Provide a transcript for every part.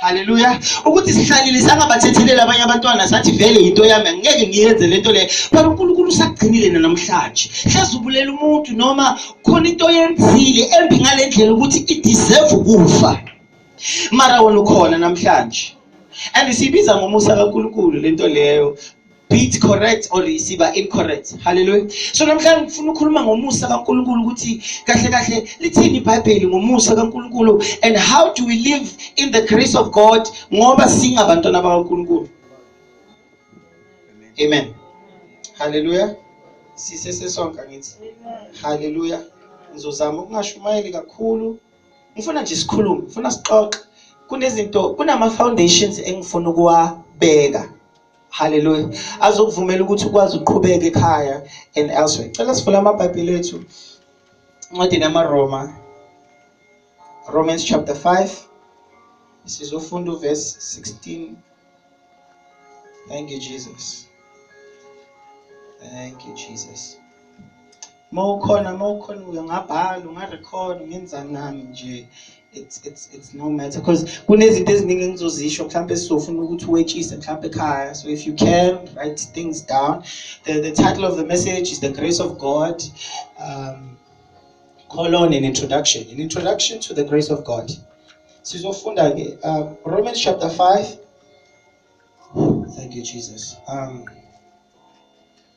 Haleluya. Ukuthi sihlalile sangabathethelela abanye abantwana sathi vele into yami angeke ngiyenze lento le. But uNkulunkulu usagcinile namhlanje. Hleze ubulela umuntu noma khona into oyenzile embi ngalendlela ukuthi i deserve ukufa. Mara wena ukhona namhlanje. And sibiza ngomusa kaNkulunkulu lento leyo be it correct or isiba incorrect haleluya so namhlanje ngifuna ukukhuluma ngomusa kaNkuluNkulu ukuthi kahle kahle lithini iBhayibheli ngomusa kaNkuluNkulu and how do we live in the grace of God ngoba singabantwana bakaNkuluNkulu amen haleluya sise sesonke ngithi haleluya ngizozama ukungashumayeli kakhulu ngifuna nje sikhulume ngifuna sixoxe kunezinto kunama foundations engifuna ukuwabeka Hallelujah. Azokuvumela ukuthi ukwazi uqhubeke ekhaya and elsewhere. Cela sivule amabhayibheli ethu. Incwadini yamaRoma. Romans chapter 5. Sizofunda uverse 16. Thank you Jesus. Thank you Jesus. mawukhona mawukhona uyangabhala ungarecord ngenzani nami nje it's it's it's no matter because kunezinto eziningi engizozisho mhlawumbe sizofuna ukuthi wetshise mhlawumbe ekhaya so if you can write things down the, the title of the message is the grace of god um, colon an introduction an introduction to the grace of god sizofunda ke um, romans chapter 5 thank you jesus um,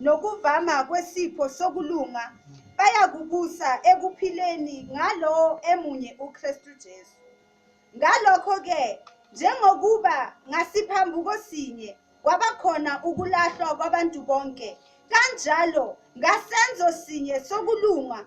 nokuvama kwesipho sokulunga bayakubusa ekuphileni ngalowo emunye uKristu Jesu. Ngalokho-ke, njengokuba ngasiphambuko sinye kwabakhona ukulahlwa kwabantu bonke, kanjalo ngasenzo sinye sokulunga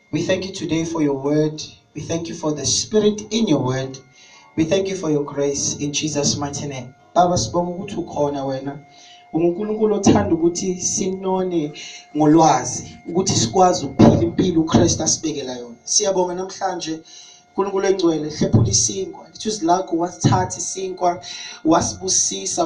We thank you today for your word. We thank you for the spirit in your word. We thank you for your grace in Jesus mighty name. Baba sibonga ukuthi ukhona wena. uNkulunkulu othanda ukuthi sinone ngolwazi ukuthi sikwazi ukuphila impilo uKristu asibekela yona siyabonga namhlanje uNkulunkulu engcwele hlephula isinkwa lithi uzilakho wasithatha isinkwa wasibusisa